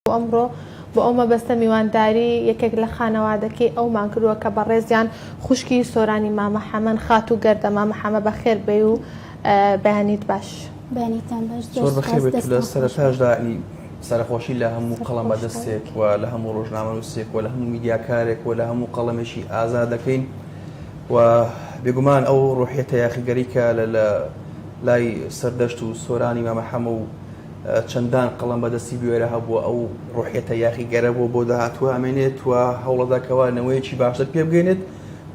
بۆ ئەمڕۆ بۆ ئەو مەبەستە میوانداری یەکێک لە خانەوادەکەی ئەومان کردووە کە بەڕێزیان خوشکی سۆرانی مامە حەمەن خاتوو گەردە مامە حەمە بەخێر بێی و بەیانیت باش بەیانیتان باش زۆر زۆر بەخێر بێت و لە دەستان خۆش سەرەتاشدا ئی سەرخۆشی لە هەموو سەر قەڵەم خۆشتان. بەدەستێک و لە هەموو ڕۆژنامەنووسێک و لە هەموو میدیاکارێک و لە هەموو قەڵەمێکی ئازا دەکەین و بێگومان ئەو ڕۆحیەتە یاخیگەری کە لە لە لای سەردەشت و سۆرانی مامە حەمە و چەندان قەڵەم بە دەستی بوێرە هەبووە، ئەو ڕۆحیەتە یاخیگەرە بۆ بۆ داهاتوو ئەمێنێت و هەوڵەدا کەوا نەوەیەکی باشتر پێ بگەینێت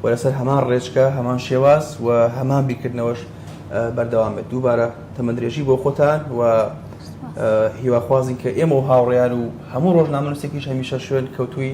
و لەسەر هەمان ڕێچکە، هەمان شێواز و هەمان بیرکردنەوەش بەردەوام بێت. دووبارە تەمەندرێژی بۆ خۆتان و هیواخوازین کە ئێمە و هاوڕێیان و هەموو ڕۆژنامەنووسێکیش هەمیشە شوێن کەوتووی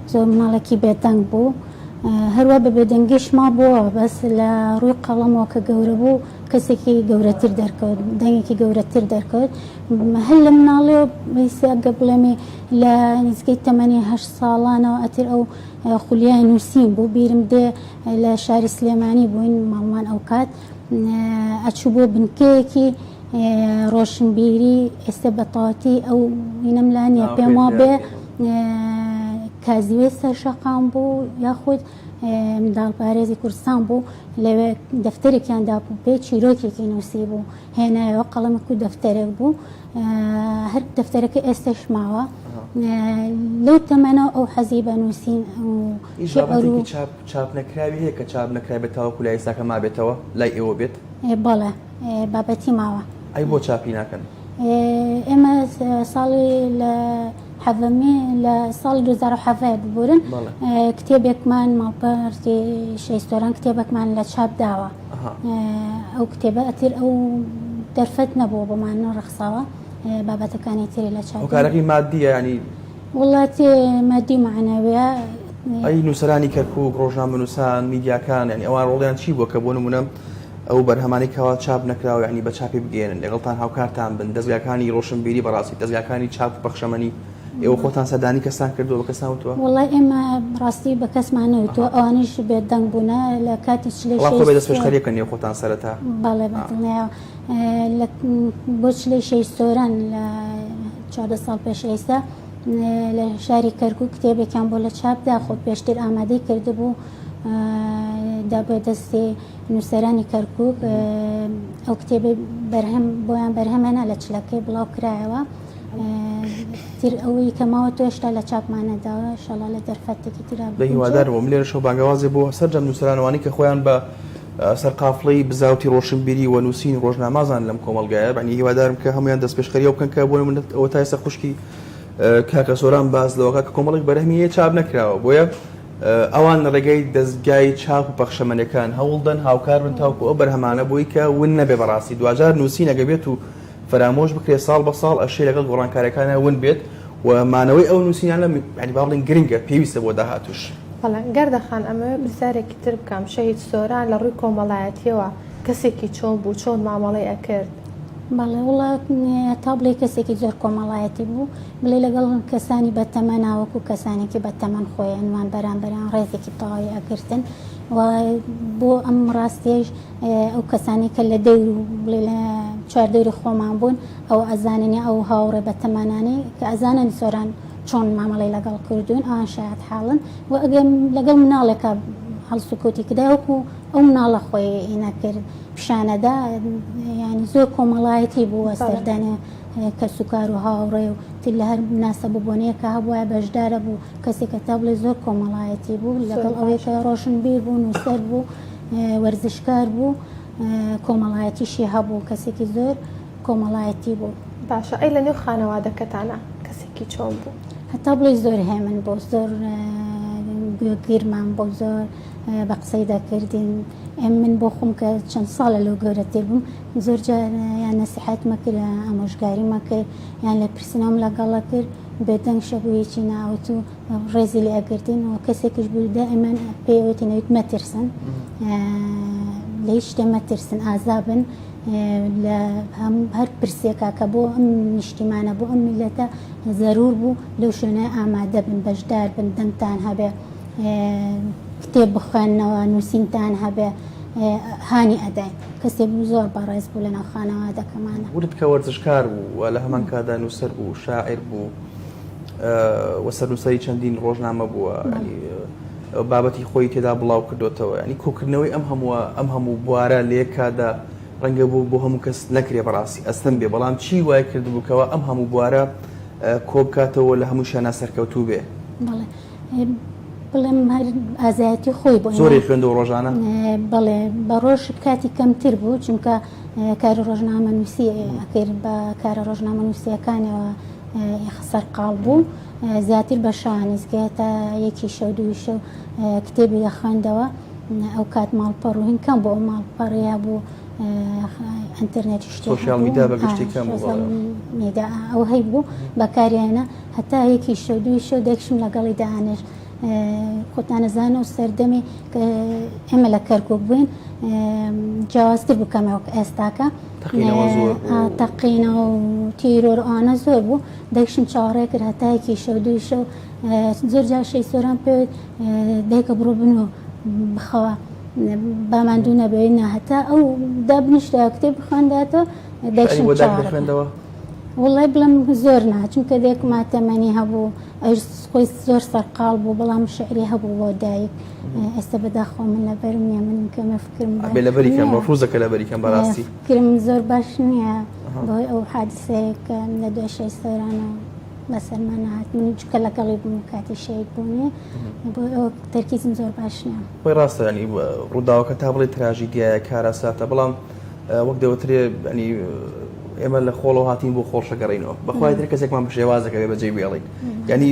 زۆر مناڵێکی بێدەنگ بوو هەروا بە بێدەنگیش مابووە بەس لە ڕووی قەڵەمەوە کە گەورە بوو کەسێکی گەورەتر دەرکەوت دەنگێکی گەورەتر دەرکەوت هەر لە مناڵێ بەیسیگە بڵێمی لە نزگەی تەمەنی هە ساڵانەوە ئەتر ئەو خولیای نووسین بوو بیرم دێ لە شاری سلێمانی بووین ماڵمان ئەو کات ئەچوو بۆ بنکەیەکی ڕۆشنبیری ئێستە بە تاتی ئەو وینەم لا نییە پێم وا بێ کازیوێ سەر شەقام بوو یاخود منداڵپارێزی کوردستان بوو لەوێ دەفتەرێکیان دابوو پێ چیرۆکێکی نووسی بوو هێنایەوە قەڵەمک و دەفتەرێک بوو هەر دەفتەرەکە ئێستش ماوە لەو تەمەەوە ئەو حەزی بە نووسین چاپ نەکراوی هەیە کە چاپ نەکرای بە تاوەکو لای ئێساکە مابێتەوە لای ئێوە بێت بەڵێ بابەتی ماوە. ئەی بۆ چاپی ناکەن؟ ئێمە ساڵی لە حەڤەمی لە ساڵی 2007 ببورن کتێبێکمان ماڵپەرتی شەیستۆران کتێبەکمان لە چاپ داوە ئەو کتێبە ئەتر ئەو دەرفەت نەبووە بۆمان ڕخساوە بابەتەکانی تری لە چاکارەکەی مادییانی وڵاتی مادی معنەوەە ئەی نووسرانی کەرکک ڕۆژنامە نووسان میدیاکان ینی ئەوان ڕۆڵیان چی بووە کە بۆ نمونە ئەو بەرهەمانەی کەوا چاپ نەکراوە یانی بە چاپی بگەیەنن لەگەڵتان هاوکارتان بن دەزگاکانی ڕۆشنبیری بەڕاستی دەزگاکانی چاپ و پەخشەمەنی ئێوە خۆتان سەردانی کەستان کردووە بە کەستان وتووە؟ وەڵای ئێمە ڕاستی بە کەسمان نەوتووە ئەوانیش بێ دەنگ بوونە لە کاتی چلەی شەست بەڵام دەست پێشخەریە کە نێو خۆتان سەرەتا بەڵێ بە دڵنیایەوە بۆ چلەی شەست سۆران لە چواردە ساڵ پێش ئێستا لە شاری کەرکک و کتێبێکیان بۆ لە چاپدا خۆ پێشتر ئامادەی کردبوو دا بە دەستی نووسەرانی کەرکووک ئەو کتێبی بەرهەم بۆیان بەرهەمێنا لە چلەکەی بڵاو کرایەوە تر ئەوەی کەماوە تۆشتا لە چاپمانەداوە شەڵا لە دەرفەتێکی تررا بەهیوادار بۆم لێرە شەو بانگەوازێ بۆ سەررجەم نووسەرانوانی کە خۆیان بە سەرقافڵی بزاوتی ڕۆشنبیری و نووسین ڕۆژنامازان لەم کۆمەلگایە بەنی هیوادارم کە هەمویان دەست پێشخەری بکەن کە بۆی منت ئەوە تایسە خوشکی کاکە سۆران باز لەوەکە کە کۆمەڵک بەرهمیە چاپ نەکراوە بۆیە ئەوان لە ڕێگای دەزگای چاپ و پەخشەمەنێکان هەوڵدەن هاوکار بن تاوکو ئەو بەرهەمانە بۆی کە ون نەبێ بەڕاستی دواجار نووسین ئەگەر بێت و فەرامۆش بکرێ ساڵ بە ساڵ ئەشێ لەگەڵ گۆڕانکاریەکانا ون بێت و مانەوەی ئەو نووسینانە یانی با بڵێین گرنگە پێویستە بۆ داهاتووش. بەڵێ گەردە خان ئەمەوێ پرسیارێکی تر بکەم شەهید سۆران لە ڕووی کۆمەڵایەتیەوە کەسێکی چۆن بوو چۆن مامەڵەی ئەکرد؟ بەڵێ وڵا تا بڵێی کەسێکی زۆر کۆمەڵایەتی بوو. بڵێ لەگەڵ کەسانی بە تەمەنا وەکو کەسانێکی بە تەمەن خۆی ئەنوان بەرامبەریان ڕێزێکی تەواوی ئەگرتن و بۆ ئەم ڕاستیەش ئەو کەسانی کە لە دەور و بڵێ لە چواردەوری خۆمان بوون ئەو ئەزاننی ئەو هاوڕێ بە تەمەنانی کە ئەزانن سۆران چۆن مامەڵی لەگەڵ کردوون ئەوان شایەت حاڵن و ئەگەم لەگەڵ مناڵێکە هەڵسوکەوتی کدا وەکو ئەو مناڵە خۆی ئینە کرد پیشانەدا ینی زۆر کۆمەڵایەتی بوو وە سەردانێ کەسوکار و هاوڕێ و تر لە هەر مناسەب و بۆنەیەک کە هەبوایە بەشدارە بوو، کەسێک کە تا بڵێی زۆر کۆمەڵایەتی بوو، لەگەڵ ئەوەی کە ڕۆشنبیر بوو، نووسەر بوو، وەرزشکار بوو، کۆمەڵایەتیشی هەبوو، کەسێکی زۆر کۆمەڵایەتی بوو. باشە ئەی لە نێو خانەوادەکەتانا کەسێکی چۆن بوو؟ هەتا بڵێی زۆر هێمن بوو، زۆر گوێگیرمان بوو، زۆر بە قسەی دەکردین، من بۆ خۆم کە چەند ساڵە لەو گەورەتر بووم، زۆر جار یان نەسیحەت مەکر یان ئامۆژگاری مەکر یان لێپرسینەوەم لەگەڵە کرد بێ دەنگ شە بۆ یەکی ناوت و ڕێزی لێ ئەگرتین و کەسێکیش بوو دائیمەن پێی ئەوتین ئەویت مەترسن لە هیچ شتێ مەترسن ئازا بن لە هەم هەر پرسێکا کە بۆ ئەم نیشتیمانە بۆ ئەم میلەتە زەرور بوو لەو شوێنە ئامادە بن بەشدار بن دەنگتان هەبێ کتێب بخوێننەوە نووسینتان هەبێ هانی ئەداین. کەسێک بوو زۆر بەڕێز بوو لەناو خانەوادەکەمانا. ورد کە وەرزشکار بوو و لە هەمان کاتدا نووسەر بوو، شاعیر بوو و سەرنووسەری چەندین ڕۆژنامە بووە. بابەتی خۆی تێدا بڵاو کردۆتەوە. یانی کۆکردنەوەی ئەم هەمووە ئەم هەموو بوارە لە یەک کاتدا ڕەنگە بۆ بۆ هەموو کەس نەکرێ بەڕاستی ئەستەم بێ، بەڵام چی وای کردبوو کەوا ئەم هەموو بوارە کۆ بکاتەوە لە هەمووشیانا سەرکەوتوو بێ؟ بەڵێ. بڵێم هەر ئازایەتی خۆی بۆ زۆری خوێند و ڕۆژانە بڵێ بە ڕۆژ کاتی کەمتر بوو چونکە کاری ڕۆژنامە نووسی ئەکرد بە کارە ڕۆژنامە نووسەکانەوە خسەر قاڵ بوو زیاتر بە شانیزگە تا یەکی شەو دووی شەو کتێبی لە خوێندەوە ئەو کات ماڵپەڕ و هینکەم بۆ ئەو ماڵپەڕەیە بوو ئەتەرنێت شتۆشیال میدا بە گشتی کەم میدا ئەو هەی بوو بەکاریانە هەتا یەکی شەو دووی شەو دەکشم لەگەڵی دانیش خۆتانەزان و سەردەمی کە ئێمە لە کەرکک بووین جیاوازتر بکەمەوە ئێستاکە تەقینەوە و تیرۆر ئانە زۆر بوو دەکشم چاڕێ کرد هەتایەکی شەو دووی شەو زۆر جاشەی سۆران پێوت دایکە بڕۆ بن و بخەوە باماندوو نەبێت ناهتا ئەو دابنیشتە کتێب بخوانداتە دەکشم خوێندەوە وەڵای بڵێم زۆر نا چونکە دایکم ماتەمەنی هەبوو ئەویش خۆی زۆر سەرقاڵ بوو بەڵام شعری هەبوو بۆ دایک ئێستا بەداخەوە من لەبەرم نییە من کەمێ فکرم باش بێ لەبەری کەم نییە. مەفروزە کە لەبەری کەم بەڕاستی ئێ، کرم زۆر باش نییە بەهۆی ئەو حادسەیە کە لە دوای شەی سۆرانە بەسەرمان نەهات من چونکە لەگەڵی بووم کاتی شەید بوونی بۆی ئەو تەرکیزم زۆر باش نییە. خۆی ڕاستە ینی ڕووداوەکە تا بڵێی تراژیدیایە کارەساتە بەڵام وەک دەوترێ ئەنی ئێمە لە خۆڵەوە هاتین بۆ خۆڵشەگەڕینەوە بەخوای تر کەسێکمان بە شێوازەکەێ بەجێ بێڵین ینی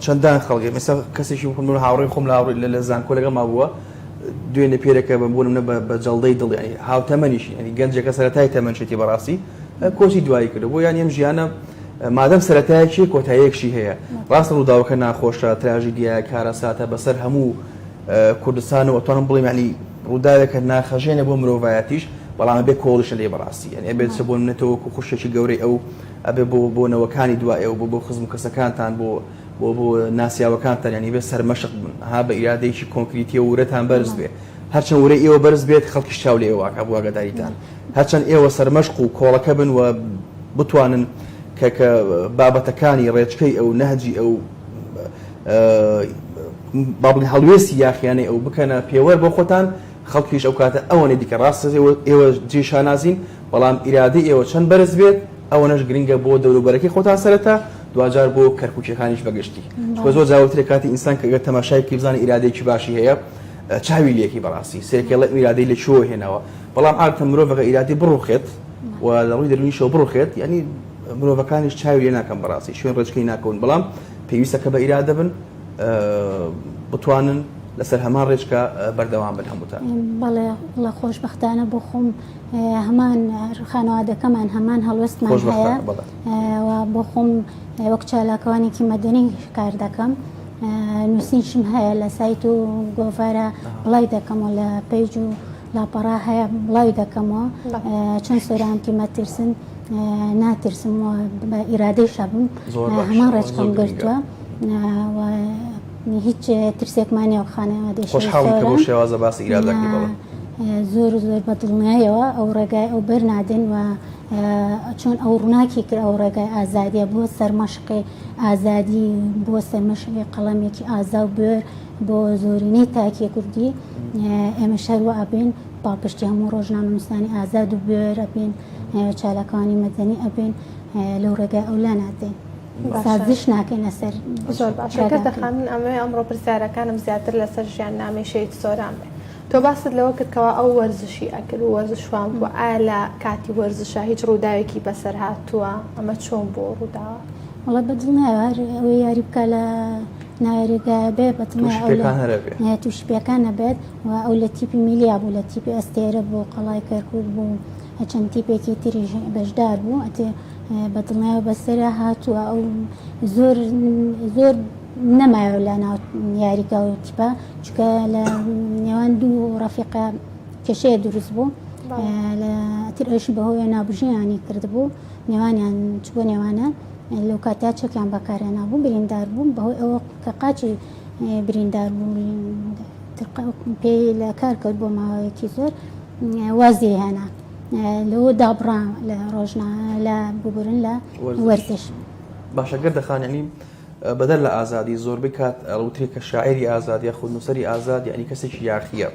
چەندان خەڵگە مێستا کەسێکی بخم هاوڕێ خۆم لاڕووی لە لە زانکۆ لەگە ما بووە دوێنێ پێرەکە بە بوونم نە بە جەڵدەی دڵیانی هاوتەمەنیشی ئەنی گەنجەکە سەرەتای تەمەنشێتی بەڕاستی کۆچی دوایی کرد بۆ یان ئەم ژیانە مادەم سەتایەکی کۆتایەکشی هەیە ڕاستە ڕووداوەکە ناخۆشە تراژیدیە کارەساتە بەسەر هەموو کوردستان و ئەتوانم بڵێم یانی ڕووداوێکە ناخهەژێنە بۆ مرۆڤایەتیش بەڵام ئەبێ کۆڵیشە لێ بەڕاستی یانی ئەبێت چ بۆ منەتەوە وەکو خوشکێکی گەورەی ئەو ئەبێ بۆ بۆ نەوەکانی دوا ئێوە بۆ بۆ خزم و کەسەکانتان بۆ بۆ بۆ ناسیاوەکانتان یانی بێ سەرمەشق بن ها بە ئیرادەیەکی کۆنکریتیە و ورەتان بەرز بێ هەرچەند ورەی ئێوە بەرز بێت خەڵکیش چاو لە ئێوەکە بۆ ئاگاداریتان هەرچەند ئێوە سەرمەشق و کۆڵەکە بن و بتوانن کە کە بابەتەکانی ڕێچکەی ئەو نەهجی ئەو با بڵێین هەڵوێستی یاخییانەی ئەو بکەنە پێوەر بۆ خۆتان، خەڵکیش ئەو کاتە ئەوەنەی دیکە ڕاستە ئێوە جێی شانازین، بەڵام ئیرادەی ئێوە چەند بەرز بێت ئەوەنەش گرنگە بۆ دەوروبەرەکەی خۆتان سەرەتا، دواجار بۆ کەرکووکییەکانیش بە گشتی. چونکە زۆر جار وترێ کاتی ئینسان کە گەر تەماشای بکەی بزانی ئیرادەیەکی باشی هەیە، چاوی لێکی بەڕاستی سێرکێڵێ ئەم ئیرادەی لە کوێوە هێناوە، بەڵام عادەتەن مرۆڤ ئەگەر ئیرادەی بڕووخێت و لە ڕووی دەروونیشەوە بڕووخێت یانی مرۆڤەکانیش چاوی لێ ناکەن بەڕاستی شوێن ڕێچکەی ناکەون، بەڵام. پێویستە کە بە ئیرادە بن بتوانن لەسەر هەمان ڕێچکە بەردەوام بن هەمووتان بەڵێ بڵە خۆشببختانە بۆ خۆم هەمان خانەوادەکەمان هەمان هەڵوێستمان هەیە بۆ خۆم وەک چالاکوانێکی مەدەنی کار دەکەم نووسینشم هەیە لە سایت و گۆڤارە بڵای دەکەمەوە لە پێج و لاپەڕە هەیە بڵاوی دەکەمەوە چۆن سۆرانتی مەترسن ناترسم و بە ئیرادەی شەبم هەمان ڕێچکەم گرتووە هیچ ترسێکمانە و خانەوە دێشخۆشحاڵ شێوازە باسی ئیرادەکەی بەڵێ زۆر زۆر بە دڵنیایەوە ئەو ڕێگای ئەو بەر نادەن و چۆن ئەو ڕووناکی کرد ئەو ڕێگای ئازادیە بۆ سەرمەشقی ئازادی بۆ سەرمەشقی قەڵەمێکی ئازا و بێر بۆ زۆرینەی تاکی کوردی ئێمەش هەر وا ئەبین، پاڵپشتی هەموو ڕۆژنامەنووسانی ئازاد و بوێر ئەبین، چالاکوانی مەدەنی ئەبین، لەو ڕێگای ئەو لا نادەین. سازش ناکەین لەسەر ڕێگاکەی. زۆر باشە کردە خان، من ئەمەوێ ئەمڕۆ پرسیارەکانم زیاتر لەسەر ژیاننامەی شەهید سۆران بێ. تۆ باست لەوە کرد کەوا ئەو وەرزشی ئەکرد و وەرزشوان بووە، ئایا لە کاتی وەرزشا هیچ ڕووداوێکی بەسەر هاتووە؟ ئەمە چۆن بووە و ڕووداوە؟ وەڵا بە دڵ نایەوە هەر ئەوێ یاری بکا لە. نایەریگایەبێ بەتمای ئەو لە نایە تووشی پێکان نەبێت و ئەو لە تیپی میلیا بوو لە تیپی ئەستێرە بوو قەڵای کەرکک بوو چەند تیپێکی تری بەشدار بوو ئەتێ بەدڵنیای و بەسەرە هاتووە ئەو زۆر زۆر نەمایەوە لە ناو یاریگا و تیپە چکە لە نێوان دوو ڕەفیقە کێشەیە دروست بوو لە تر ئەوشی بەهۆیە نابژیانی کردبوو نێوانیان چ بۆ نێوانە لەو کاتەیا چەکیان بەکارهێنابوو بریندار بوو بەهۆی ئەوە کە قاچی بریندار بوو پێی لە کار کەوت بۆ ماوەیەکی زۆر وازی هێنا لەوە دابڕا لە ڕۆژنا لە ببورن لە وەرزش باشەگەر دەخانەنی بەدەر لە ئازادی زۆر بکات ئەڵوتری کە شاعری ئازاد یا خود نووسری ئازاد یعنی کەسێکی یاخیە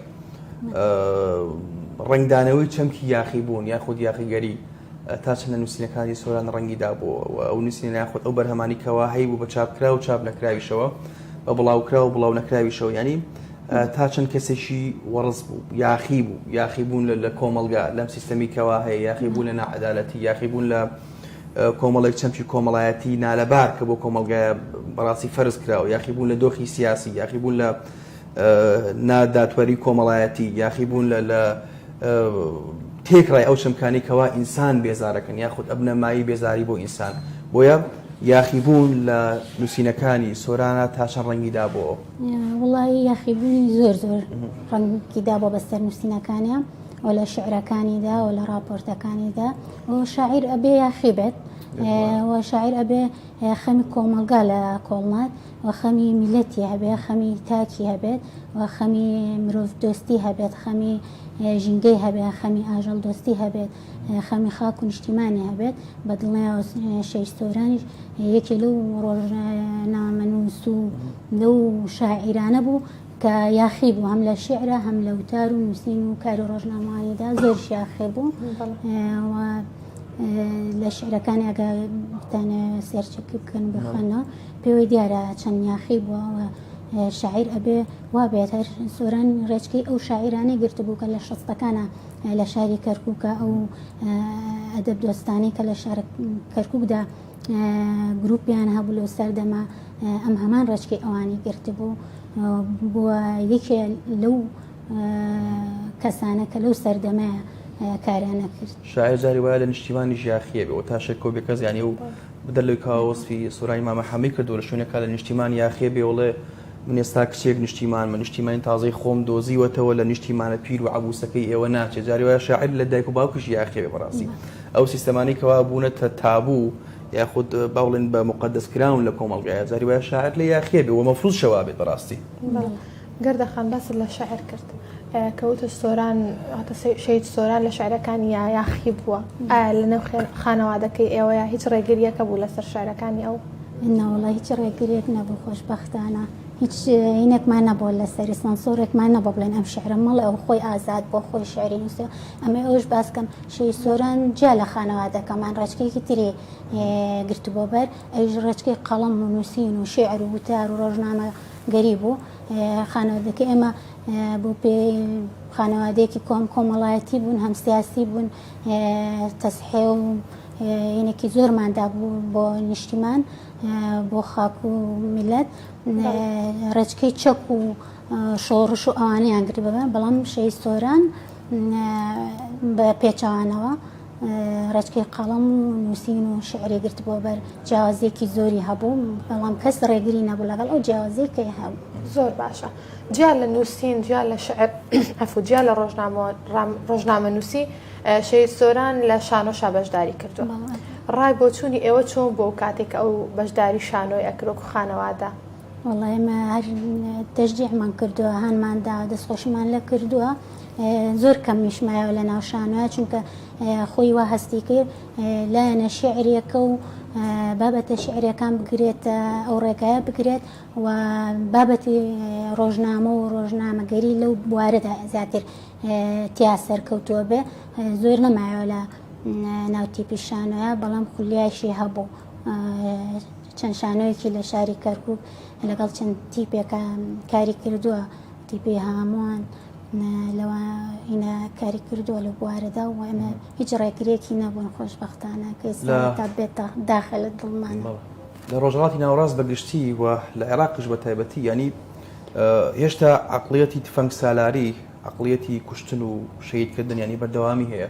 ڕنگدانەوەی چەمکی یاخی بوون یاخود یاخیگەری تا چەندە نووسینەکانی سۆران ڕەنگی دابۆوە و ئەو نووسینە یاخود ئەو بەرهەمانی کەوا هەیبوو بە چاپکرا و چاپ نەکراویشەوە بە بڵاوکرا و بڵاو نەکراویشەوە یانی تا چەند کەسێکی وەڕز بوو یاخی بوو یاخی بوون لە کۆمەلگا لەم سیستەمی کەوا هەیە یاخی بوون لە نەعەدالەتی یاخی بوون لە کۆمەڵێک چەمکی کۆمەڵایەتی نالەبار کە بۆ کۆمەلگایە بەڕاستی فەرز کراوە یاخی بوون لە دۆخی سیاسی یاخی بوون لە نادادپەری کۆمەڵایەتی یاخی بوون لە تێکڕای ئەو چەمکانەی کەوا ئینسان بێزارەکەن یاخود ئەبنە مایەی بێزاری بۆ ئینسان بۆیە یاخیبوون لە نووسینەکانی سۆرانە تا چەند ڕەنگی دابەوە وڵی یاخیبوونی زۆر زۆر ڕەنگی دابووە بەسەر نووسینەکانە و لە شعرەکانیدا و لە ڕاپۆرتەکانیدا و شاعیر ئەبێ یاخیبێت و شاعیر ئەبێ خەمی کۆمەلگا لە کۆڵنات و خەمی میلەتی هەبێت خەمی تاکی هەبێت و خەمی مرۆڤ دۆستی هەبێت خەمی ژینگەی هەبێت خەمی ئاژەڵ دۆستی هەبێت خەمی خاک و نیشتیمانی هەبێت بە دڵنیاوە شەهید سۆرانیش یەکێ لەو ڕۆژنامەنووس و لەو شاعیرانە بوو کە یاخی بوو هەم لە شیعرە هەم لە وتار و نووسین و کاری ڕۆژنامەوانیدا زۆر شیاخێ بوو لە شعرەکانی ئەگە بتانە سێرچەک بکەن بخەنەوە پێوەی دیارە چەند یاخی بووەوە شاعیر ئەبێ وا بێت هەر سۆران ڕێچکەی ئەو شاعرانەی گرتبوو کە لە شەستەکانە لە شاری کەرکووکە ئەو ئەدەب دۆستانی کە لە شار کەرکووکدا گروپیان هەبوو لەو سەردەمە ئەم هەمان ڕێچکەی ئەوانی گرتبوو بووە یەکێ لەو کەسانە کە لەو سەردەمەیە کاریانە کرد شاعر جاری وایە لە نیشتیمانی ژاخیە بێ و تا شێک کۆبێ کەس یانی و بدەر لەوی کاوەسفی سورانی مامە حەمی کردو لە شوێنێکا لە نیشتیمان یاخیە بێ وڵێ من ئێستا کچێک نیشتیمان من نیشتیمانی تازەی خۆم دۆزیوەتەوە لە نیشتیمانە پیر و عبوسەکەی ئێوە ناچێ جاری وایە شاعر لە دایک و باوکیش یاخیە بێ بەڕاستی ئەو سیستەمانەی کەوا بوونەتە تابوو یاخود با بڵێن بە موقەدەس کراون لە کۆمەڵگایە، جاری وایە شاعیر لێ یاخییە بێ و مەفرووزشە وا بێت بەڕاستی. بەڵێ گەردە خان باست لە شیعر کرد کە وتت سۆران واتە شەهید سۆران لە شیعرەکانیا یاخی بووە، ئایا لە نێو خانەوادەکەی ئێوەیە هیچ ڕێگرییەکە بوو لەسەر شیعرەکانی ئەو؟ نەوەڵڵا هیچ ڕێگرییەک نەبوو خۆشبەختانە هیچ هینێکمان نەبووە لەسەری، سانسۆرێکمان نەبووە بڵێن ئەم شیعرە مەڵێ ئەو خۆی ئازاد بووە خۆی شیعری نووسیوە. ئەمەی ئەوەش باس بکەم. شێی سۆران جیا لە خانەوادەکەمان ڕێچکەیەکی تری گرتبۆبەر ئەویش ڕێچکەی قەڵەم و نووسین و شێعر و وتار و ڕۆژنامە گەری بوو خانەوادەکە ئێمە بۆ پێ خانەوادەیەکی کۆم کۆمەڵایەتی بوون هەم سیاسی بوون تەسحێ و یەنێکی زۆرماندا بوو بۆ نیشتیمان بۆ خاک و میلەت ڕێچکەی چەک و شۆڕش و ئەوانەیان گرت بە بەر، بەڵام شەهید سۆران بە پێچەوانەوە ڕێچکەی قەڵەم و نووسین و شعری گرت بۆ بەر جیاوازیەکی زۆری هەبوو بەڵام کەس ڕێگری نەبوو لەگەڵ ئەو جیاوازی کە هەبوو زۆر باشە جیا لە نووسین جیا لە شعر ئەفو جیا لە ڕۆژنامە نووسی شەی سۆران لە شانۆشا بەشداری کردو ڕای بۆچوونی ئێوە چۆن بۆ کاتێک ئەو بەشداری شانۆی ئەکرۆک و خانەوادە وەڵا ئێمە هەر تەشجیعمان کردووە هانمان دا دەستخۆشیمان لە کردووە زۆر کەم نیشمایەوە لە ناو شانوە چونکە خۆی وا هەستی کرد لایەنە شعرەکە و بابەتە شعرەکان بگرێت ئەو ڕێگایە بگرێت و بابەتی ڕۆژنامە و ڕۆژنامەگەری لەو بوارەدا زیاتر تیا سەرکەوتووە بێ زۆر نەمایەوە لە ناوتی پیشانە بەڵام خولیایشی هەبوو. چەند شانۆیەکی لە شاری کەرکک لەگەڵ چەند تیپێکە کاری کردووە تیپی هامووان لەوە هینە کاری کردووە لە بوارەدا و ئەمە هیچ ڕێکرێکی نەبوون خۆشببختانە کە تا بێتە داخل لە دڵمان لە ڕۆژهڵاتی ناوڕاست بەگشتی و لە عێراقش بە تایبەتی ینی هێشتا عقلەتی تفەنگ سالاری عەقڵیەتی کوشتن و شەهید کردن یانی بەردەوامی هەیە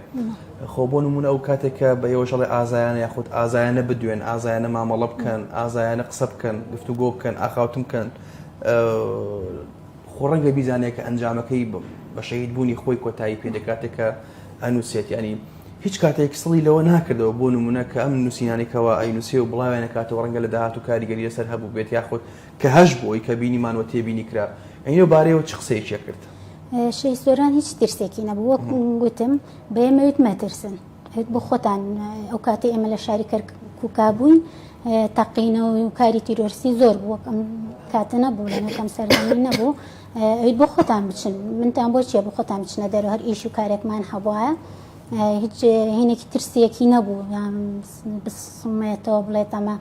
خۆ بۆ نمونە ئەو کاتێک کە بە ئێوە ژەڵێ ئازایانە یاخود ئازایانە بدوێن ئازایانە مامەڵە بکەن ئازایانە قسە بکەن گفتو گۆ بکەن ئاخاوتن بکەن خۆ ڕەنگە بیزانێت کە ئەنجامەکەی بە شەید بوونی خۆی کۆتایی پێ دەکاتێکە ئەنووسێت ینی هیچ کاتێک سڵی لەوە ناکردەوە بۆ نمونە کە ئەم نووسینانێکەوە ئەی نووسێ و بڵاوێنە کاتەوە ڕەنگە لە داهات و کاریگەری لەسەر هەبوو بێت یاخود کە هەش بووی کە بینیمان وە تێبینی کرا ئەینۆ بارەیەوە چ قسەیەکیە کرد؟ شێخ سۆران هیچ ترسێکی نەبوو وەک گوتم بە ئێمەوێت مەترسن هێت بۆ خۆتان ئەو کاتی ئێمە لە شاری کەرکوکا بووین تەقینەوە و کاری تیرۆرسی زۆر بوو وەکم کاتە نەبوو لەکەم سەردانی نەبوو ئەویت بۆ خۆتان بچن منتان بۆ چیە بۆ خۆتان بچنە دەرو هەر ئیش و کارێکمان هەبواە هیچ هینێکی ترسیەکی نەبوو بسمێتەوە بڵێت ئەمە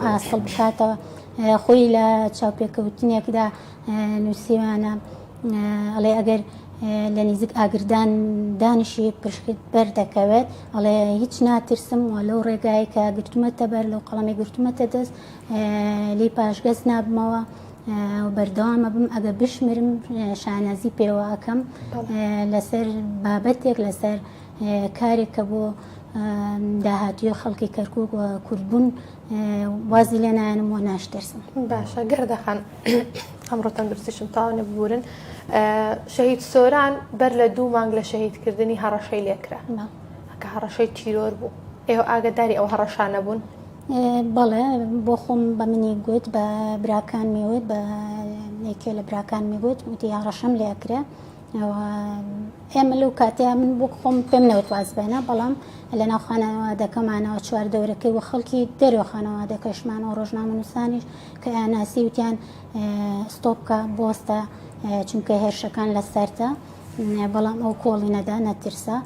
ئاسڵ بکاتەوە خۆی لە چاوپێکەوتنێکدا نووسیوانە ئەڵێ ئەگەر لە نزیک ئاگردان دانیشی پشکت بەر دەکەوێت ئەڵێ هیچ ناترسم و لەو ڕێگای کە گرتومەتە بەر لەو قەڵەمی گرتومەتە دەست لی پاشگەز نابمەوە بەردەوامە بم ئەگە بشمرم شانازی پێوە ئەەکەم لەسەر بابەتێک لەسەر کارێک کە بۆ داهاتوی خەڵکی کەرکک و کوردبوون وازی لێ نایەنم و ناشترسم باشە گردەخان ئەمڕۆ تەندروستیشم تاو نەبورن شەهید سۆران بەر لە دوو مانگ لە شەهیدکردنی هەڕەشەی لێکرا کە هەڕەشەی تیرۆر بوو ئێوە ئاگداری ئەو هەڕەشانە بوون بەڵێ بۆ خۆم بە منی گوت بە براکان میوت بە یەکێ لە براکان میگوت وتی هەڕەشەم لێکرا ئێمە لەو کاتێ من بۆ خۆم پێم نەوت واز بێنە بەڵام لە ناو خانەوادەکەمانەوە چوار دەورەکەی و خەڵکی دەرەوە خانەوادەکەشمان و ڕۆژنامەنووسانیش کە ئەناسی وتیان ستۆپکە بۆستە چونکە هێرشەکان لە سەرتە بەڵام ئەو کۆڵی نەدا نەترسا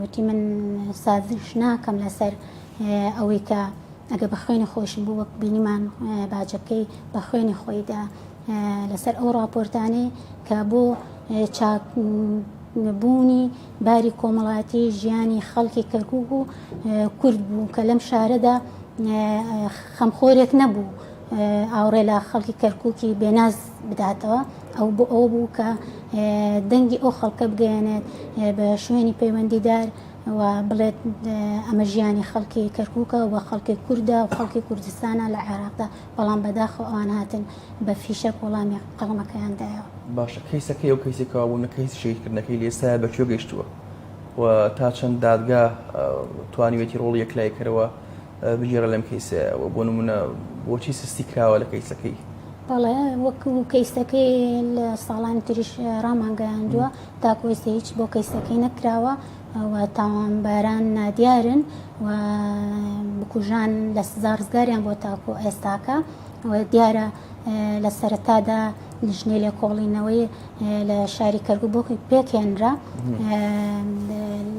وتی من سازش ناکەم لەسەر ئەوەی کە ئەگە بە خوێنی خۆشم بوو وەک بینیمان باجەکەی بە خوێنی خۆیدا لەسەر ئەو ڕاپۆرتانەی کە بۆ چاک بوونی باری کۆمەڵاتی ژیانی خەڵکی کەرکک و کورد بوو کە لەم شارەدا خەمخۆرێک نەبوو ئاوڕێ لە خەڵکی کەرککی بێناز بداتەوە ئەو بۆ ئەو بوو کە دەنگی ئەو خەڵکە بگەیەنێت بە شوێنی پەیوەندیدار و بڵێت ئەمە ژیانی خەڵکی کەرککە و بە خەڵکی کووردا و خەڵکی کوردستانە لە عێراقدا بەڵام بەداخەوە ئەوان هاتن بە فیشەک وەڵامی قەڵەمەکەیان دایەوە. باشە کەیسە کەی ئەو کەیسی کەوابوونە کەیسی شەهیدکردنەکەی لە ئێستایا بە کوێ گەیشتووە و تا چەند دادگا توانیوێتی ڕۆڵی یەکلاییکەرەوە بگێڕە لەم کەیسەیە و بۆ نمونە بۆچی سستی کراوە لە کەیسەکەی بەڵێ وەک و کەیسەکەی لە ساڵانی تریش ڕامانگەیاندووە تاکۆیستی هیچ بۆ کەیسەکەی نەکراوە و تاوانباران نادیارن و بکوژان لە سزا ڕزگاریان بۆ تاکو ئێستاکە و دیارە لە سەرەتادا لیژنەی لێکۆڵینەوەی لە شاری کەرگو بۆ پێکێنرا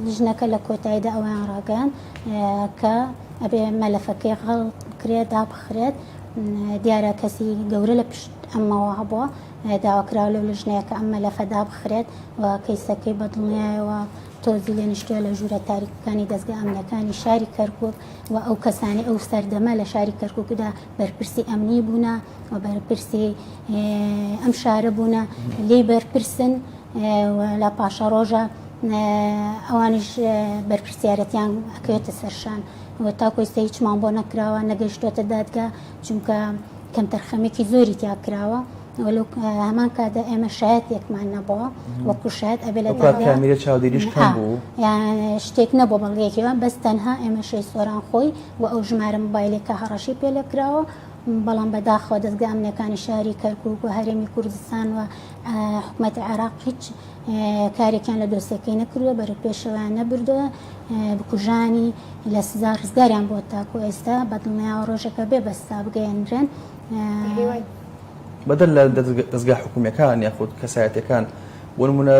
لیژنەکە لە کۆتاییدا ئەویان ڕاگەیان کە ئەبێ مەلەفەکەی غەڵ بکرێت دابخرێت دیارە کەسی گەورە لە پشت ئەمەوە هەبووە داوا کراوە لەو لیژنەیە کە ئەم مەلەفە دابخرێت و کەیسەکەی بە دڵنیایەوە تۆزی لێ نیشتووە لە ژوورە تاریکەکانی دەستگا ئەمنەکانی شاری کەرکک و ئەو کەسانی ئەو سەردەمە لە شاری کەرککدا بەرپرسی ئەمنی بوونە و بەرپرسی ئەم شارە بوونە لی بەرپرسن لە پاشە ڕۆژە ئەوانش بەرپرسیارەتیان ئەکەوێتە سەرشان و تاکۆی سە هیچمان بۆ نەکراوە نەگەشتوێتە دادگا چونکە کەمتەرخەمێکی زۆری تیا کراوە وەلو هەمان کادا ئێمە شایەت یەکمان نەبەوە وەکو شایەت ئەبێ لە کامیرە چاودێریش کەم بوو شتێک نەبوو بەڵگەیەکیوە بەس تەنها ئێمە شەی سۆران خۆی و ئەو ژمارە مبایلێکە هەڕەشی پێ لەکراوە بەڵام بەداخەوە دەستگا ئەمنەکانی شاری کەرکک و هەرێمی کوردستان و حکوومەتی عێراق هیچ کارێکیان لە دۆسیەکەی نەکردووە بەرەو پێشەوەیان نەبردووە بکوژانی لە سزا ڕزگاریان بۆ تاکو ئێستا بەدڵنیاوە ڕۆژەکە بێ بەستا بگەێنرێن بەدەر لە دەستگا حکومیەکان یاخود کەسایەتەکان بۆ نمونە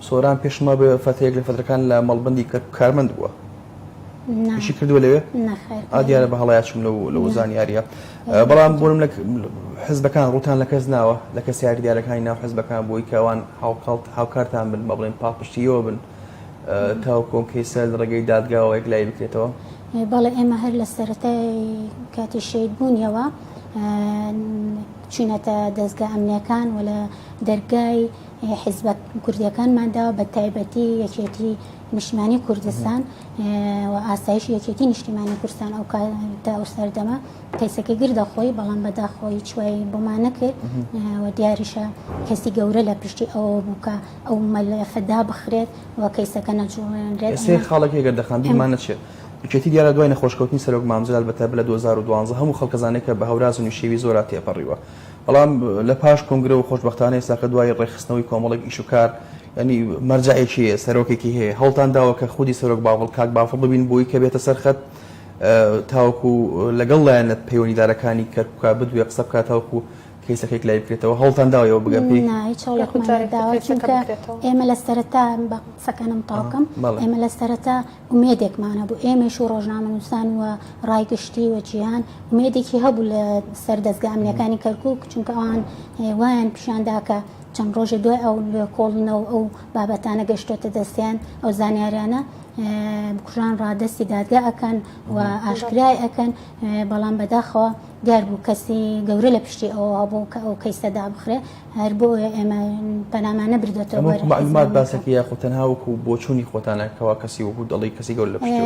سۆران پێشمە بە فەتەیەک لە فەتەکان لە مەڵبندی کە کارمەند بووە شی کردووە لەوێ ئادیارە بە هەڵایچوم لە لە زانیاریە. بەڵام بۆ نمونە حزبەکان ڕووتان لە کەس ناوە لە کەس یاریدارەکانی ناو حزبەکان بۆی کەوان هاوکڵت هاوکارتان بن بە بڵێن پاڵپشتیەوە بن تاو کۆنکەی سەر لە ڕێگەی دادگاوە یەک لای بکرێتەوە بەڵێ ئێمە هەر لە سەرەتای کاتی شید بوونیەوە چینەتە دەستگا ئەمنیەکان و لە دەرگای حیزبە کوردیەکانماندا بە تایبەتی یەکێتی نیشتمانی کوردستان و ئاسایش یەکێتی نیشتیمانی کوردستان ئەو تا ئەو سەردەمە کەیسەکە گردە خۆی بەڵام بەدا خۆی چوای بۆمان نەکرد و دیاریشە کەسی گەورە لە پشتی ئەوە بووکە ئەو مەلەفەدا بخرێت و کەیسەکە نەجوڵێنرێت سێ خاڵێکی گەردەخان بیرمان نەچێت یەکێتی دیارە دوای نەخۆشکەوتنی سەرۆک مامجلال بە تایبەت لە 2012 هەموو خەڵکەزانێکە بە هەوراز و نوشێوی زۆرا تێپەڕیوە بەڵام لە پاش کۆنگرە و خۆشبەختانە ئێستاکە دوای ڕێکخستنەوەی کۆمەڵێک ئیشوکار یانی مەرجەعێکی هەیە سەرۆکێکی هەیە هەوڵتان داوە کە خودی سەرۆک باڤڵ کاک باڤڵ ببین بۆی کە بێتە سەر خەت تاوەکو لەگەڵ لایەنە پەیوەنیدارەکانی کەرکوکە بدوێ قسە بکات تاوەکو کەیسەکەی لای بکرێتەوە هەوڵتان داوە ئێوە بگەن پێی نا هیچ هەوڵێکمان یاخود جارێک نەداوە کە کەیسەکە چونکە بکرێتەوە ئێمە لە سەرەتا بە قسەکانم تەواو بکەم ئەها بەڵێ ئێمە لە سەرەتا ئومێدێکمان هەبوو ئێمەش و ڕۆژنامەنووسان و ڕای گشتی و جیهان ئومێدێکی هەبوو لە سەر دەزگا ئەمنییەکانی کەرکووک چونکە ئەوان اه، وایان پیشان دا کە چەند ڕۆژێ دوای ئەو لێکۆڵینەوە ئەو بابەتانە گەشتۆتە دەستیان ئەو زانیاریانە بکوژان ڕادەستی دادگا ئەکەن و ئاشکرای ئەکەن بەڵام بەداخەوە دیار بوو کەسی گەورە لە پشتی ئەوە هەبوو کە ئەو کەیسە دابخرێ هەر بۆ ئێمە پەنامانە بردێتەوە معلومات باسەکە یاخود تەنها وەکو بۆچوونی خۆتانە کەوا کەسی وەکو دەڵی کەسی گەور لە پشتی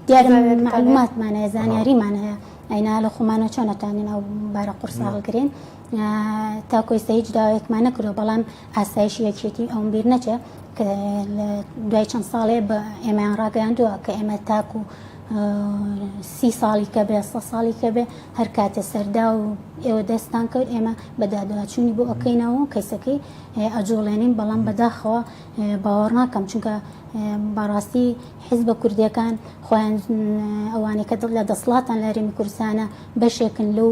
دیار معلوماتمانە زانیاریمان هەیە ئەینا لە خۆمانە چۆنەتوانین ئەو بارە قورساڵگرین تاکو ئێستا هیچ داوایەکمان نەکردو بەڵام ئاسایشی یەکێتی ئەوم بیر نەچێ کە لە دوای چەند ساڵێ بە ئێمەیان ڕاگەیاندووە کە ئێمە تاکو سی ساڵی کە بێ سە ساڵی کە بێ هەر کاتێ سەردا و ئێوە دەستان کەوت ئێمە بەدادواچوونی بۆ ئەەکەینەوە و کەیسەکەی ئەجوڵێنین بەڵام بەداخەوە باوەڕ ناکەم چونکە بەڕاستی حزبە کوردیەکان خۆیان ئەوانەی کە دڵ لە دەسڵاتان لە هەرێمی کوردستانە بەشێکن لەو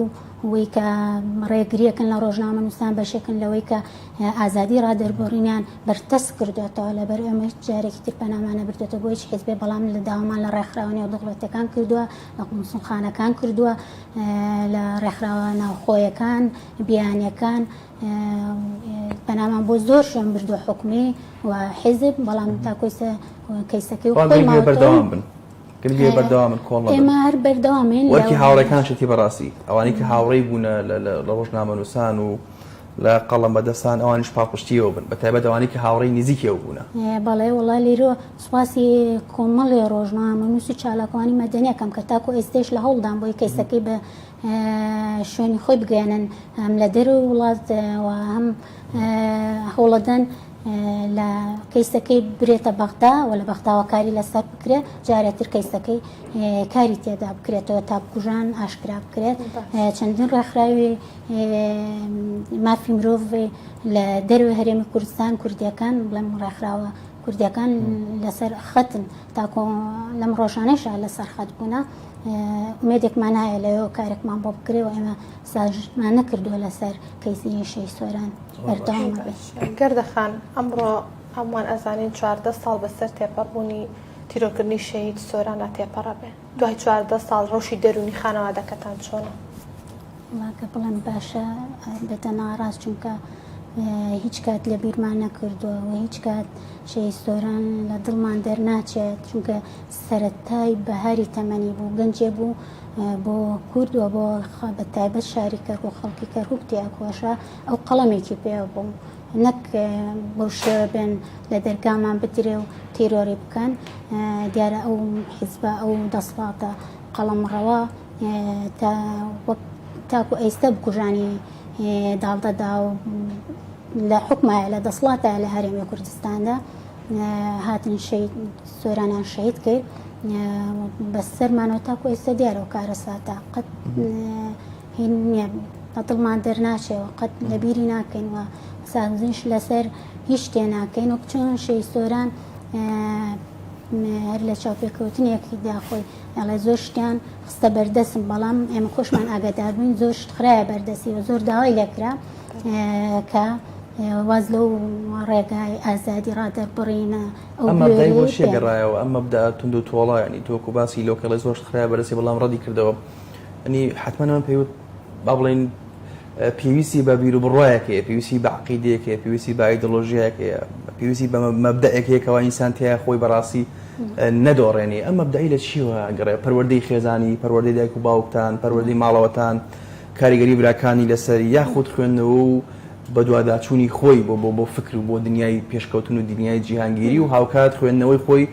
وی کە ڕێگریەکن لە ڕۆژنامەنووسان بەشێکن لەوەی کە ئازادی ڕادەربڕینیان بەرتەس کردوێتەوە لەبەر ئێمە جارێکی تر پەنامانە بردێتە بۆ هیچ حزبێ بەڵام لە داوامان لە ڕێکخراوە نێو دەوڵەتەکان کردووە لە قومسونخانەکان کردووە لە ڕێکخراوە ناوخۆیەکان بیانەکان پەنامان بۆ زۆر شوێن بردو حکومی و حزب بەڵام تاکۆیسە کەیسەکەی خۆی بەردەوام بن. گرنگە بەردەوامن کۆڵ ئێمە هەر بەردەوامین وەکی هاوڕێکان شتی بەڕاستی ئەوانەی کە هاوڕێی بوونە لە ڕۆژنامەنووسان و لە قەڵم بەدەستان ئەوانش پاڵپشتیەوە بن بە تایبەت ئەوانی کە هاوڕێی نزیکەوە بوونە بەڵێ وڵا لێرۆ سوپاسی کۆمەڵێ ڕۆژنامە نووسی چالاکوانی مەدەنیەکەم کە تاکو ئێستش لە هەوڵدان بۆی کەیسەکەی بە شوێنی خۆی بگەێنن هەم لە دەر وڵات هەم هەوڵەدەن لە کەیسەکەی برێتە بەغدا و لە بەغداوە کاری لەسەر بکرێت جارێتر کەیسەکەی کاری تێدا بکرێتەوە تا بکوژان ئاشکرا بکرێت چەندین ڕێکخراوی مافی مرۆڤ لە دەروێ هەرێمی کوردستان کوردیەکان بڵێم ڕێکخراوە کوردیەکان لەسەر خەتن تاکۆ لەم ڕۆژانەشە لەسەر خەت بوونە ئومێدێکمان هەیە لەوێەوە کارێکمان بۆ بکرێ و ئێمە ساژمان نەکردووە لەسەر کەیسی یشەی سۆران بەردەوام گەردەخان ئەمڕۆ هەمووان ئەزانین چواردە ساڵ بەسەر تێپەڕبوونی تیرۆکردنی شەهید سۆرانە تێپەڕە بێ دوای چواردە ساڵ ڕەوشی دەرونی خانەوادەکەتان چۆنە وڵاکە بڵێم باشە بێتە ناڕاست چونکە هیچ کات لە بیرمان نەکردووە و هیچ کات شەی سۆران لە دڵمان دەرناچێت چونکە سەرەتای بەهاری تەمەنی بوو، گەنجێ بوو بۆ کورد و بۆ بە تایبەت شاری کەرکوک خەڵکی کەرکوک تێئەکۆشا، ئەو قەڵەمێکی پێ بوو نەک بەو شێوە بێن لە دەرگامان بدرێ و تیرۆری بکەن، دیارە ئەو حیزبە ئەو دەسڵاتە قەڵەمڕەوە تا وەک تاکو ئەیستا بکوژانی داڵدەدا و لە حکومایە لە دەسڵاتە لە هەرێمی کوردستاندا. هاتن شەید سۆرانیان شەید کرد بەسەرمانەوە تاکو ئێستا دیارەوە کارەساتە قەت هین نییە لە دڵمان دەرناچێەوە قەت لەبیری ناکەینەوە سازنش لەسەر هیچ تێ ناکەین و بچۆن شەی سۆران هەر لە چاوپێکەوتنێکی داخۆی ئەڵێ زۆر شتیان خستە بەردەسم بەڵام ئێمە خۆشمان ئاگاداربووین زۆر شت خراە بەردەسیەوە زۆر داوای لەکرا کە واز لەو ڕێگای ئازادی ڕادەربڕینە ئەو مەبدای بۆ شێ گەڕایەوە ئەم مەبدا توند و تۆڵایانی تۆک و باسی لۆکەڵی زۆرش خراە بەرەسی بەڵام ڕەدی کردەوە ئەنی حتممەەوە پێوت با بڵین پێویستی بە بیر و بڕایەکەیە پێویستی بەعقیدەیەکەیە پێویستی بایدۆلۆژیایەکەیە پێویستی بە مەبدەەکەیەکەوە ئینسان تیا خۆی بەڕاستی نەدۆڕێنی ئەم مەبدەی لە چیوە گەڕێ پەروەردەی خێزانی پەروەردەی دایک و باوکتان پەروەردەی ماڵەوەتان کاریگەری براکانی لەسەر یاخود خوێندنەوە و بەدواداچوونی خۆی بۆ بۆ فکر و بۆ دنیای پێشکەوتن و دنیای جیهانگیری و هاوکات خوێندنەوەی خۆی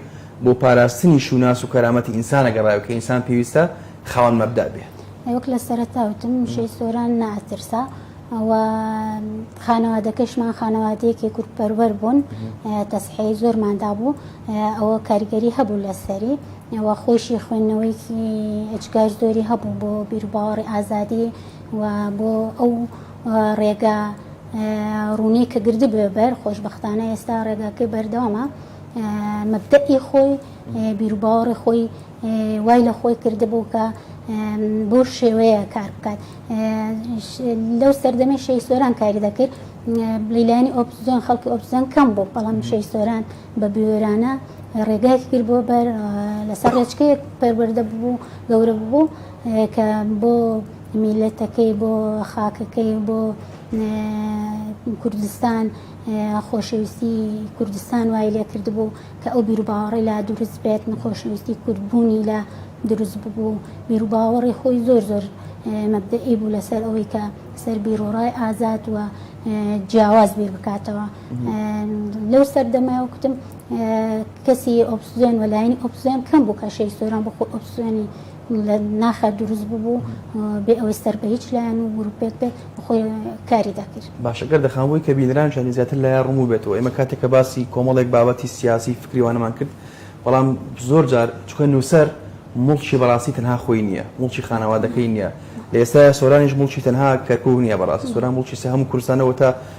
بۆ پاراستنی شوناس و کەرامەتی ئینسانە گەڕاوی کە ئینسان پێویستە خاوەن مەبدا بێت. وەک لە سەرەتا وتم وشەی سۆران ناترسا و خانەوادەکەشمان خانەوادەیەکی کوردپەروەر بوون تەسحێی زۆرمان دابوو ئەوە کاریگەری هەبوو لەسەری و خۆیشی خوێندنەوەیەکی ئەجگار زۆری هەبوو بۆ بیرباوەڕی ئازادی و بۆ ئەو ڕێگا ڕوونی کە گرد بێ بەر خۆشببختانە ئێستا ڕێگاکەی بەردەوامە مەبدەئی خۆی بیرباوەڕی خۆی وای لە خۆی کردبوو کە بۆ شێوەیە کار بکات لەو سەردەمەی شەی سۆران کاری دەکرد لیلانی ئۆپزیۆن خەڵکی ئۆپزیۆن کەم بوو بەڵام شەی سۆران بە بوێرانە ڕێگایەکی کرد بۆ بەر لەسەر ڕێچکەیەک پەروەەردە ببوو گەورە ببوو کە بۆ میلەتەکەی بۆ خاکەکەی بۆ کوردستان خۆشەویستی کوردستان وای لێ کرد بوو کە ئەو بیرروباوەڕی لا دروست بێت نخۆشەویستی کوردبوونی لە دروست ببوو بیرروباوەڕی خۆی زۆر زۆر مەبدەئی بوو لەسەر ئەوەی کە سەر بیرۆڕای ئازاد وە جیاواز بیر بکاتەوە لەو سەردەمەوە کوتم کەسی ئۆپسزیۆن و لایەنی ئۆپسزیۆن کەم بوو کەشەی سۆران بۆ خۆ ئۆپسزیۆنی لە ناخە دروست ببوو بێ ئەوەی سەر بە هیچ لایەن و گروپێک بێت خۆی کاری دەکرد باشە گەر دەخانبووی کە بینران شانی زیاتر لایە ڕموو بێتەوە ئێمە کاتێک کە باسی کۆمەڵێک بابەتی سیاسی فکریوانەمان کرد بەڵام زۆر جار چکە نووسەر مڵکی بەڕاستی تەنها خۆی نییە مڵکی خانەوادەکەی نییە لە ئێستا سۆرانیش مڵکی تەنها کەرکک نییە بەڕاستی سۆران مڵکی سە هەم کوردستانەوە تا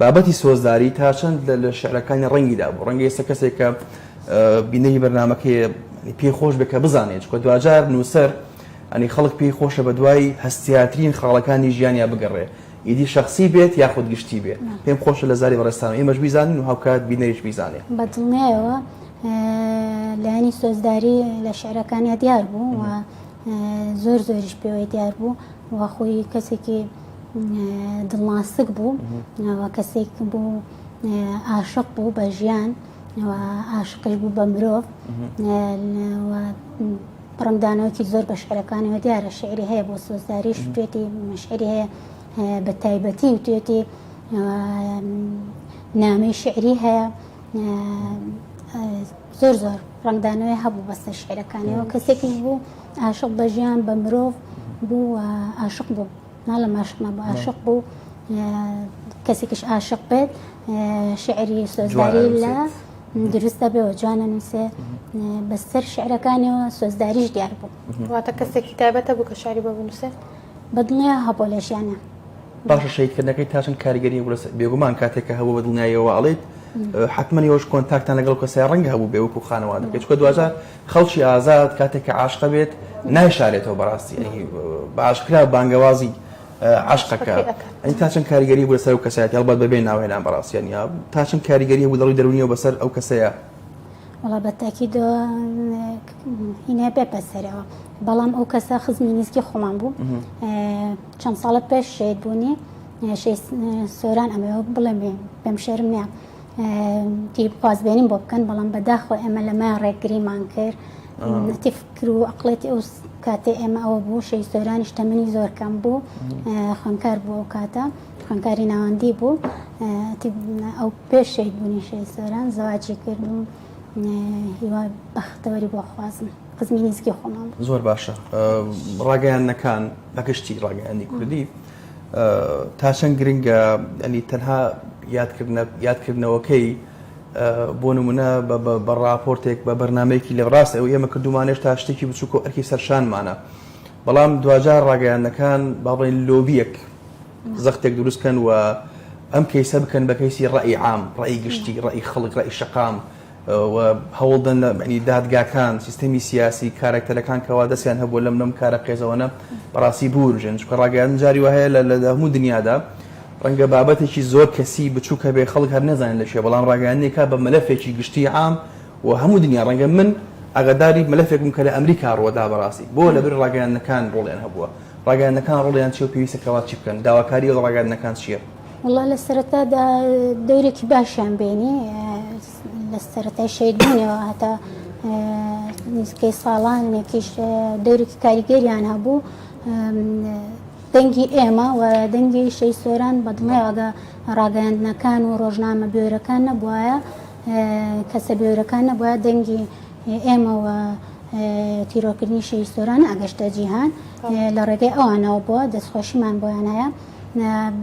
بابەتی سۆزداری تا چەند لە لە شعرەکانی ڕەنگیدا بوو ڕەنگە ئێستا کەسێک کە بینەری بەرنمەکەی پێی خۆش بێت کە بزانێت چکە دواجار نووسەر ئەنی خەڵک پێی خۆشە بە دوای هەستیاترین خاڵەکانی ژیانیا بگەڕێ ئیدی شخصی بێت یاخود گشتی بێت پێم خۆشە لە زاری بەڕێستان ئێمەش بیزانین و هاوکات بینەریش بیزانێ بە دڵنیایەوە لایانی سۆزداری لە شعرەکانیا دیار بوو و زۆر زۆریش پێوەی دیار بوو وەخۆی کەسێکی دڵناسک بوو و کەسێک بوو ئاشق بوو بە ژیان ئاشقش بوو بە مرۆڤ بڕمدانەوەکی زۆر بە شعرەکانەوە دیارە شعری هەیە بۆ سۆزداری شتێتی مشعری هەیە بە تایبەتی و توێتی نامی شعری هەیە زۆر زۆر ڕەنگدانەوەی هەبوو بەسەر شعرەکانیەوە کەسێکیش بوو عاشق بە ژیان بە مرۆڤ بوو عاشق بوو ناڵە ماشق نەبوو عاشق بوو کەسێکیش عاشق بێت شعری سۆزداری لە دروست دەبێ و جوانە نووسێ بەسەر شعرەکانیەوە سۆزداریش دیار بوو واتە کەسێکی تایبەتە بوو کە شاری بە بنووسێت بەدڵنیا هەبوو لە ژیانا. باشە شەهیدکردنەکەی تا چەند کاریگەری هەبوو لەسەر بێگومان کاتێک کە هەبوو بەدڵنیایەوە ئەڵێیت حتمما یۆش کۆنتاکتان لەگەڵ کەسای ڕەنگە هەبوو بێ وەکو خانەوادەکەی چکە دواجار خەڵکی ئازاد کاتێک کە عاشقە بێت نایشارێتەوە بەڕاستی باشکرا بانگەوازی عشقەکە ئەنی تا چەند کاریگەری بوو لەسەر و کەسایەتی هەڵبەت بەبێ ناوێنان بەڕاستیان یا تا چەند کاریگەری بوو دەڵی دەرونیەوە بەسەر ئەو کەسەیە وەڵا بە تاکید هینای بەپەسەرەوە بەڵام ئەو کەسە خزمی نزیکی خۆمان بوو چەند ساڵە پێش شێت بوونی سۆران ئەمە بڵێم پێم شێرم نیە تی بخوازبێنیم بۆ بکەن بەڵام بەداخۆ ئێمە لەمە ڕێگریمان کرد تی فکر و ئەقلێتی ئەو کاتێ ئێمە ئەوە بوو شەی سۆرانیش تەمەنی زۆر کەم بوو خوێنکار بوو ئەو کاتە خوێندکاری ناوەندی بوو ئەو پێش شەید بوونی شەید سۆران زەواجی کرد و هیوا بەختەوەری بۆ خوازم خزمی نزیکی خۆمان بوو. زۆر باشە ڕاگەیاندنەکان بە گشتی ڕاگەیاندنی کوردی تا چەند گرنگە ئەنی تەنها یادکردنە یادکردنەوەکەی بۆ نمونە بە ڕاپۆرتێک بە بەرنمەیەکی لە ڕاست ئەو ئێمە کردومانێش تا شتێکی بچووکە ئەرکی سەرشانمانە بەڵام دواجار ڕاگەیاندنەکان باڵێن لۆبیەک زەختێک دروست کەن و ئەم کەیسە بکەن بە کەیسی ڕەئی عام ڕەئی گشتی ڕەئی خەڵک ڕەئی شەقام هەوڵدەن لەنی دادگاکان سیستەمی سیاسی کارکتەرەکان کەوا دەستیان هەبوو لەم لەم کارە قێزەوەە بەڕاستی بورژێن چکە ڕاگەیان جاری وهەیە لە لە هەموو دنیادا ڕەنگە بابەتێکی زۆر کەسی بچووکە بێ خەڵک هەر نەزانین لە شێ بەڵام ڕاگەیانێکا بە مەلەفێکی گشتی عام و هەموو دنیا ڕەنگە من ئەگەداری مەلەفێکم کە لە ئەمریکا ڕوەدا بەڕاستی بۆ لەبری ڕاگەیانەکان ڕۆڵیان هەبووە ڕاگەیاندنەکان ڕۆڵیان چیە و پێویستە کەوا چی بکەن؟ داواکاری ئەو ڕاگەیاندنەکان چیە؟ وەڵا لە سەرەتادا دەورێکی باشیان بینی لە سەرەتای شەیدبوونەوە هەتا نزیکەی ساڵانێکیش دەورێکی کاریگەریان هەبوو دەنگی ئێمە و دەنگی شەی سۆران بەدڵێواگە ڕاگەاندنەکان و ڕۆژنامە بێرەکان نەبواە کەسە بێورەکان نەبوایە دەنگی ئێمە و تیرۆرکردنی شەهید سۆران ناگەشتە جیهان لە ڕێگەی ئەوانەوە بووە دەستخۆشیمان بۆیان هەیە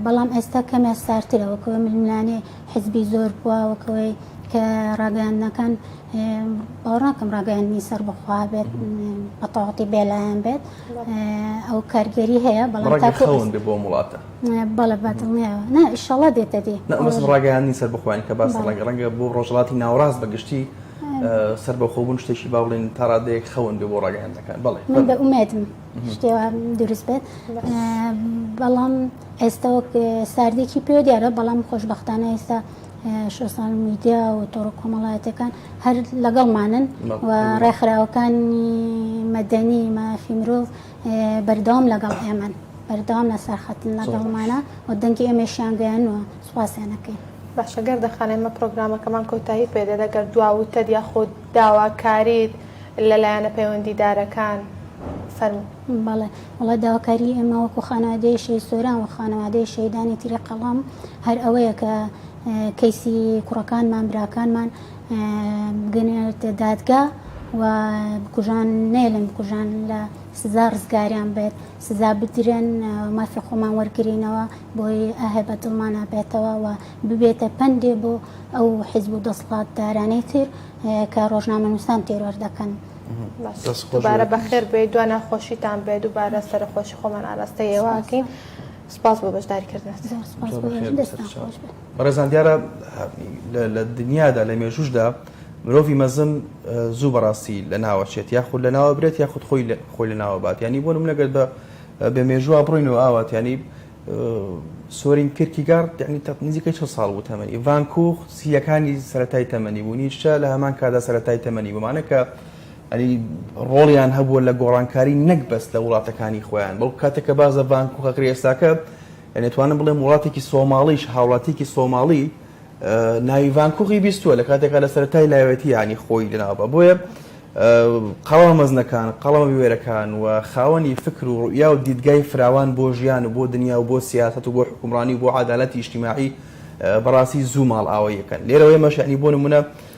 بەڵام ئێستا کەمێ سارترە وەکەوە ململانێ حزبی زۆر بووە وەکەوەی کە ڕاگەیاندنەکان باوڕاکەم ڕاگەیاندنی سەر بخوا بێت بەتەواتی بێلایەن بێت ئەو کارگەری هەیە بەڵام تاکەون بۆ وڵاتە بەڵێ بەدڵنیایەوە نا ئیشەڵا دێتە دی نە ئەمە سم ڕاگەیاندنی سەربەخۆیان کە باس ڕەنگە ڕەنگە بۆ ڕۆژهەڵاتی ناوەڕاست بە گشتی سەربەخۆبوون شتێکی با بڵێن تا ڕادەیەک خەون بێ بۆ ڕاگەیاندنەکان بەڵێ من بە ئومێدم شتێوە دروست بێت بەڵام ئێستا وەک ساردێکی پێ دیارە بەڵام خۆشببختانە ئێستا شۆسان میدیا و تۆڕ کۆمەڵایەتەکان هەر لەگەڵمانن و ڕێکخراوەکانی مەدەنی مافی مرۆڤ بەردەوام لەگەڵ ئێمەن بەردەوام لە سەرخەتن لەگەڵمانە و دەنگی ئێمەشیان گەیانوە سوپاسیان نەکەین. باشە گەردە خان ئێمە پرۆگرامەکەمان کۆتایی پێدێت ئەگەر دوا وتەت یاخۆ داواکاریت لە لایەنە پەیوەندیدارەکان فەرموو. بەڵێ وەڵا داواکاری ئێمە وەکو خانەوادەی شەهید سۆران و خانەوادەی شەهیدانی تری قەڵەم هەر ئەوەیە کە کەیسی کوڕەکانمان براکانمان بگەنێنێتە دادگا و بکوژان نێلن بکوژان لە سزا ڕزگاریان بێت سزا بدرێن مافی خۆمان وەرگرینەوە بۆی ئاهێ بە دڵمانە بێتەوە و ببێتە پەندێ بۆ ئەو حیزب و دەسڵات دارانەی تر کە ڕۆژنامە نووسان تێرۆر دەکەن. دوبارە بەخێر بێ دو ناخۆشیتان بێ دوبارە سەرخۆشی خۆمان ئاراستە ئێواکەین. سپاس بۆ بەشداری کردنت. زۆر سپاس بۆ ئێوەش، دەستتان خۆش بێت. بەڕێزان دیارە لە دنیادا لە مێژووشدا مرۆڤی مەزن زوو بەڕاستی لە ناوە چێت یاخود لە ناوە برێت یاخود خۆی خۆی لە ناوە بات ینی بۆ منەگەر بە بێ مێژووە بڕین و ئاوات ینی سۆرین کرکی گار ینی نزیکە چه ساڵ بوو تەمەنی ئیڤانکوخ سیەکانی سەتای تەمەنی بوو نیشە لە هەمان کادا سەتای تەمەنی بمانە کە ڕۆڵیان هەبووە لە گۆڕانکاری نەک بەس لە وڵاتەکانی خۆیان بەڵکو کاتێک کە باس لە ڤانکوخە کرێساکە دەتوانم بڵێم وڵاتێکی سۆماڵیش هاوڵاتیکی سۆماڵی ناوی ڤانکوخی بیستووە لە کاتێکا لە سەرای لاوێتیانی خۆی لەناوبە بۆیە قەڵا مەزنەکان قەڵەمە بوێرەکان و خاوەنی فکر و ڕوئیا و دیدگای فراوان بۆ ژیان و بۆ دنیا و بۆ سیاست و بۆ حکومڕانی و بۆ عادالەتی ئیشتیماعی بەڕاستی زوو ماڵ ئاوە یەکەن لێرەوەی مەشعنی بۆ نمونە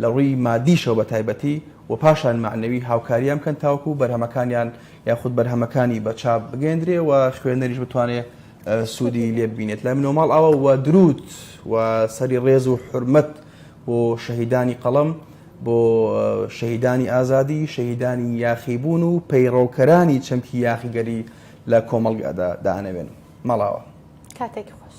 لە ڕووی مادیشەوە بە تایبەتی و پاشان مەعنەوی هاوکاریان بکەن تاوەکو بەرهەمەکانیان یاخود بەرهەمەکانی بە چاپ بگەیەندرێ و خوێنەریش بتوانێ سوودی لێ ببینێت. لای من و ماڵ ئاوا و دروود و سەری ڕێز و حورمەت بۆ شەهیدانی قەڵەم، بۆ شەهیدانی ئازادی، شەهیدانی یاخیبوون و پەیڕەوکەرانی چەمکی یاخیگەری لە کۆمەڵگادا دانەوێن. ماڵ ئاوا. کاتێکی خۆش.